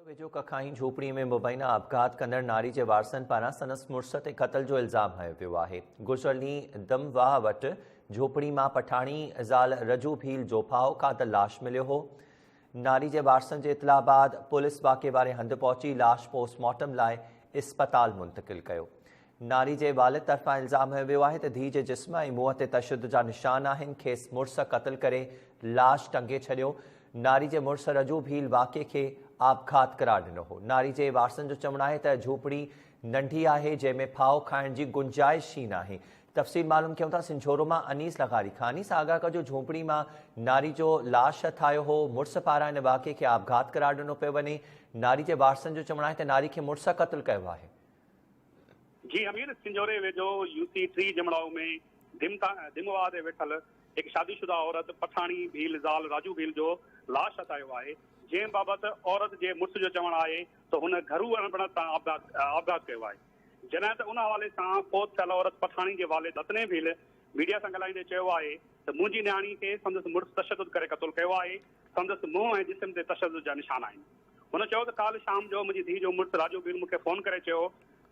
ويجهو ڪکائين جهوپڙي ۾ مبينا آپگهات ڪندڙ ناري جي وارثن پاران سندس مڙس تي قتل جو الزام هنيو ويو آهي. گذريل ڏينهن دم واهه وٽ جهوپڙي مان پٺاڻي زال رجو ڀيل جوپائو قاتل لاش مليو هو. ناري جي وارثن جي اطلاع بعد پوليس واقعي واري هنڌ پهچي لاش پوسٽ مارٽم لاء اسپتال منتقل ڪيو. ناري جي والد طرفان الزام هنيو ويو آهي ته ڌيء جي جسم ۽ منهن تي تشدد جا نشان آهن، کيس مڙس قتل ڪري لاش ٽنگي ڇڏيو، ناري جي مڙس رجو ڀيل واقعي کي آپگهات قرار ڏنو هو، ناري جي وارثن جو چوڻ آهي ته جهوپڙي ننڍي آهي جنهن ۾ ڦاهو کائڻ جي گنجائش ئي ناهي، تفصيل معلوم ڪيون ٿا سنجهورو مان انيس لغاري کان انيس آگاهه ڪجو جهوپڙي مان ناري جو لاش هٿ آيو هو، مڙس پاران ان واقعي کي آپگهات قرار ڏنو پيو وڃي، ناري جي وارثن جو چوڻ آهي ته ناري کي مڙس قتل ڪيو آهي. جي همير سنجهوري ويجهو يو سي ٽي جمڙائو ۾ ڌم واهه تي ويٺل هڪ شادي شده عورت پٺاڻي ڀيل زال راجو ڀيل جو لاش هٿايو آهي جنهن بابت عورت جي مڙس جو چوڻ آهي ته هن گهرو اڻبڻت سان آپگهات ڪيو آهي جڏهن ته ان حوالي سان فوت ٿيل عورت پٺاڻي جي والد هتني ڀيل ميڊيا سان ڳالهائيندي چيو آهي ته منهنجي نياڻي کي سندس مڙس تشدد ڪري قتل ڪيو آهي سندس منهن ۽ جسم تي تشدد جا نشان آهن. هن چيو ته ڪالهه شام جو منهنجي ڌيء جو مڙس راجو بيل مون کي فون ڪري چيو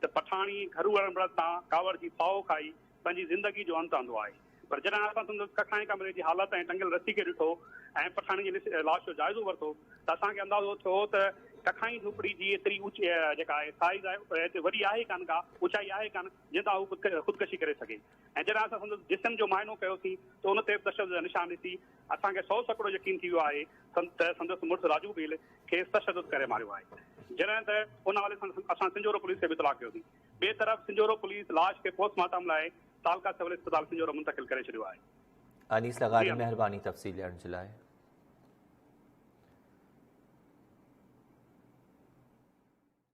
ته پٺاڻي گهرو اڙڻ بڙڻ سان ڪاوڙ جي ڦاهو کائي پنهنجي زندگي جو انت آندو آهي پر جڏهن اسان سندس ڪکائين ڪمري جي حالت ۽ ٽنگيل رسي کي ڏٺو ۽ پٺاڻي جي لاش جو جائزو ورتو ته اسان کي اندازو ٿيو ته ڪکائين جهوپڙي جي ايتري اوچ جيڪا آهي سائيز آهي ايتري وڏي آهي ڪانه ڪا اوچائي آهي ڪانه جنهن تان هو خودڪشي ڪري سگهي ۽ جڏهن اسان سندس جسم جو معائنو ڪيوسين ته ان تي به تشدد جا نشان ڏسي اسان کي سئو سئڪڙو يقين ٿي ويو آهي ته سندس مڙس راجو ڀيل کيس تشدد ڪري ماريو آهي. جڏهن ته ان حوالي سان اسان سنجهورو پوليس کي به اطلاع ڪيو سين. ٻئي طرف سنجهورو پوليس لاش کي پوسٽ مارٽم لاء تعلقه سول اسپتال سنجهورو منتقل ڪري ڇڏيو آهي. انيس لغاري مهرباني تفصيل ڏيڻ جي لاء.